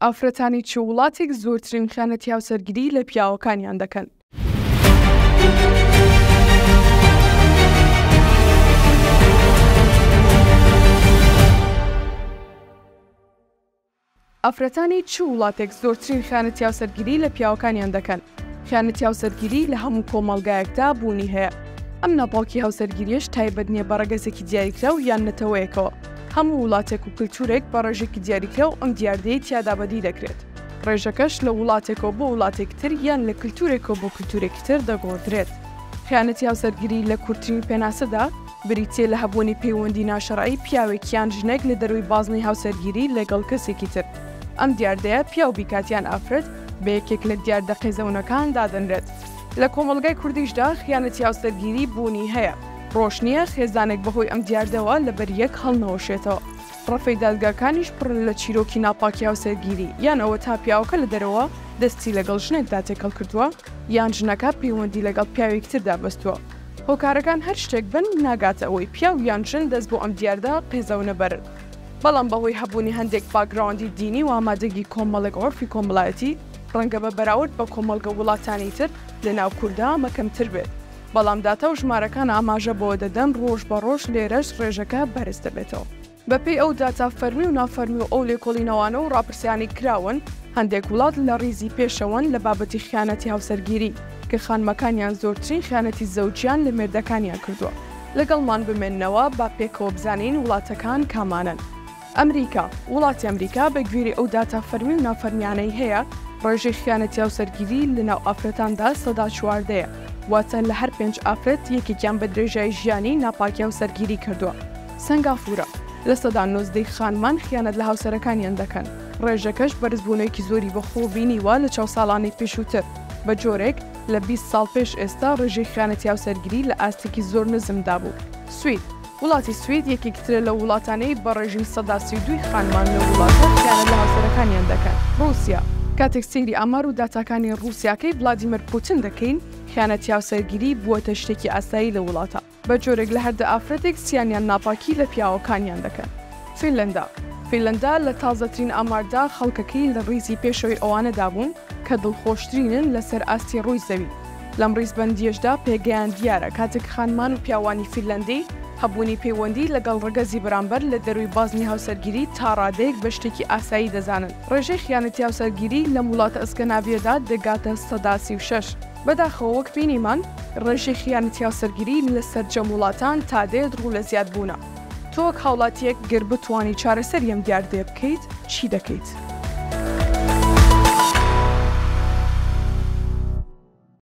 ئافرەتانی چ وڵاتێک زۆرترین خیانەتی هاوسەرگیری لە پیاوەکانیان دەکەن؟ ئافرەتانی چ وڵاتێک زۆرترین خیانەتی هاوسەرگیری لە پیاوەکانیان دەکەن؟ خیانەتی هاوسەرگیری لە هەموو کۆمەڵگایەکدا بوونی هەیە. ئەم ناپاکی هاوسەرگیریش تایبەت نییە بە ڕەگەزێکی دیاریکراو یان نەتەوەیەکەوە، هەموو وڵاتێک و کلتورێک بە ڕێژێکی دیاریکراو ئەم دیاردەیەی تیادا بەدی دەکرێت، ڕێژەکەش لە وڵاتێکەوە بۆ وڵاتێکی تر یان لە کلتورێکەوە بۆ کلتورێکی تر دەگۆڕدرێت. خیانەتی هاوسەرگیری لە کورترین پێناسەدا بریتییە لە هەبوونی پەیوەندی ناشەرعی پیاوێک یان ژنێک لە دەرووی بازنەی هاوسەرگیری لەگەڵ کەسێکی تر، ئەم دیاردەیە پیاو بیکات یان ئافرەت بە یەکێک لە دیاردە قێزەونەکان دادەنرێت. لە کۆمەڵگای کوردیشدا خیانەتی هاوسەرگیری بوونی هەیە. ڕۆژ نییە خێزانێک بەهۆی ئەم دیاردەوە لەبەر یەک هەڵنەوەشێتەوە. ڕەفەی دادگاکانیش پڕن لە چیرۆکی ناپاکی هاوسەرگیری، یان ئەوە تا پیاوەکە لە دەرەوە دەستی لەگەڵ ژنێکدا تێکەڵ کردووە، یان ژنەکە پەیوەندی لەگەڵ پیاوێکیتردا بەستووە. هۆکارەکان هەر شتێک بن، ناگاتە ئەوەی پیاو یان ژن دەست بۆ ئەم دیاردە قێزەوە نەبەرن. بەڵام بەهۆی هەبوونی هەندێک باکگراوندی دینی و ئامادەگی کۆمەڵێک عورفی کۆمەڵایەتی، ڕەنگە بە بەراورد بە کۆمەڵگە وڵاتانی تر، لەناو کوردا ئەمە کەمتر بێت. بەڵام داتا و ژمارەکان ئاماژە بەوە دەدەن ڕۆژ بە ڕۆژ لێرەش ڕێژەکە بەرز دەبێتەوە. بە پێی ئەو داتا فەرمی و نافەرمی و ئەو لێکۆڵینەوانە و ڕاپرسیانەی کراون، هەندێک وڵات لە ڕیزی پێشەوەن لە بابەتی خیانەتی هاوسەرگیری، کە خانمەکانیان زۆرترین خیانەتی زەوجیان لە مێردەکانیان کردووە. لەگەڵمان بمێننەوە با پێکەوە بزانین وڵاتەکان کامانەن. ئەمریکا، وڵاتی ئەمریکا بە گوێرەی ئەو داتا فەرمی و نافەرمیانەی هەیە، ڕێژەی خیانەتی هاوسەرگیری لە ناو ئافرەتاندا سەدا چواردە یە، واتە لە هەر پێنج ئافرەت یەکێکیان بە درێژایی ژیانی ناپاکی هاوسەرگیری کردووە. سەنگافورە، لە سەدا نۆزدە ی خانمان خیانەت لە هاوسەرەکانیان دەکەن، ڕێژەکەش بەرزبوونێکی زۆری بە خۆ بینیوە لە چاو ساڵانی پێشووتر، بە جۆرێک لە بیست ساڵ پێش ئێستا ڕێژەی خیانەتی هاوسەرگیری لە ئاستێکی زۆر نزمدا بوو. سوید. وڵاتی سوید یەکێکیترە لەو وڵاتانەی بە ڕێژیم سەدا سی و دووی خانمان لەو وڵاتە خیانەت لە هاوسەرەکانیان دەکەن. ڕووسیا. کاتێک سەیری ئامار و داتاکانی ڕووسیاکەی ڤلادیمێر پوتن دەکەین، خیانەتی هاوسەرگیری بووەتە شتێکی ئاسایی لەو وڵاتە، بە جۆرێک لە هەر دە ئافرەتێک سیان یان ناپاکی لە پیاوەکانیان دەکەن. فینلەندا. فینلەندا لە تازەترین ئاماردا خەڵکەکەی لە ڕیزی پێشەوەی ئەوانەدا بوون کە دڵخۆشترینن لەسەر ئاستی ڕووی زەوی، لەم ڕیزبەندییەشدا پێگەیان دیارە کاتێک خانمان و پیاوانی فینلەندی هەبوونی پەیوەندی لەگەڵ ڕەگەزی بەرامبەر لە دەرووی بازنەی هاوسەرگیری تا ڕادەیەک بە شتێکی ئاسایی دەزانن. ڕێژەی خیانەتی هاوسەرگیری لەم وڵاتە ئەسکەناڤییەدا دەگاتە سەدا سی و شەش. بەداخەوە وەک بینیمان ڕێژەی خیانەتی هاوسەرگیری لە سەرجەم وڵاتان تا دێت ڕوو لە زیادبوونە. تۆ وەک هاوڵاتییەک گەر بتوانی چارەسەری ئەم دیاردەیە بکەیت چی دەکەیت؟